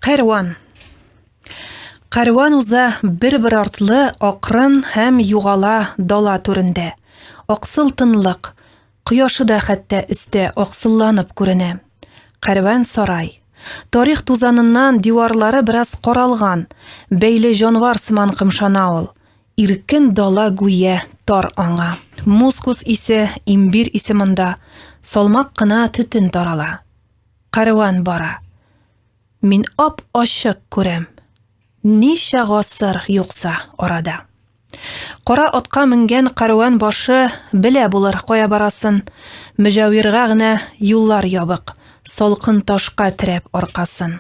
Кәрван. Кәрван уза бер-бер артлы акрын һәм югала дала түрендә. Аксыл тынлык. Кояшы да хәтта өстә аксылланып күренә. Кәрван сарай. Тарих тузаныннан диварлары бераз каралган, бәйле җанвар сыман кымшана ул. Иркен дала гүя тар аңа. Мускус исе, имбир исе монда. Салмак кына төтен тарала. Кәрван бара. Мин ап-ачык күрәм. Ничә гасыр юкса арада. Кара атка менгән кәрван башы белә булыр кая барасын. Мөҗәвирга генә юллар ябык, салкын ташка терәп аркасын.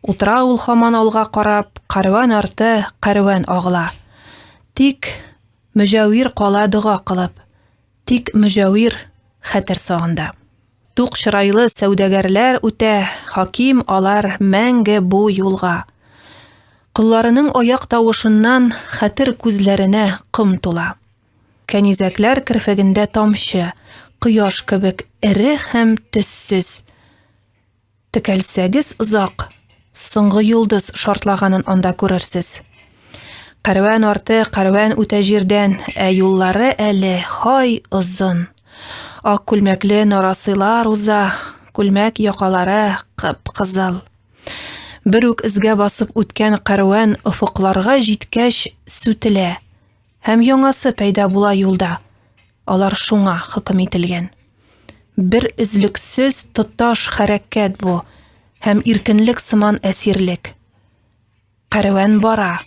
Утыра ул һаман алга карап, кәрван арты кәрван агыла. Тик Мөҗәвир кала дога кылып. Тик Мөҗәвир хәтер сагында. Тук чырайлы сәүдәгәрләр үтә, хаким алар мәңге бу юлга. Колларының аяк тавышыннан хәтер күзләренә ком тула. Кәнизәкләр керфегендә тамчы, кояш кебек эре һәм төссез. Текәлсәгез озак, соңгы йолдыз шартлаганын анда күрерсез. Кәрван арты, кәрван үтә җирдән, ә юллары әле хай озын. Ак күлмәкле нарасыйлар уза, күлмәк якалары кып-кызыл. Бер үк эзгә басып үткән кәрван офыкларга җиткәч сүтелә. Һәм яңасы пәйда була юлда. Алар шуңа хөкем ителгән. Бер өзлексез тоташ хәрәкәт бу һәм иркенлек сыман әсирлек. Кәрван бара.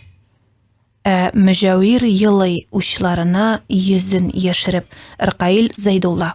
Ә Мөҗәвир елый учларына йөзен яшереп, Ркаил Зәйдулла.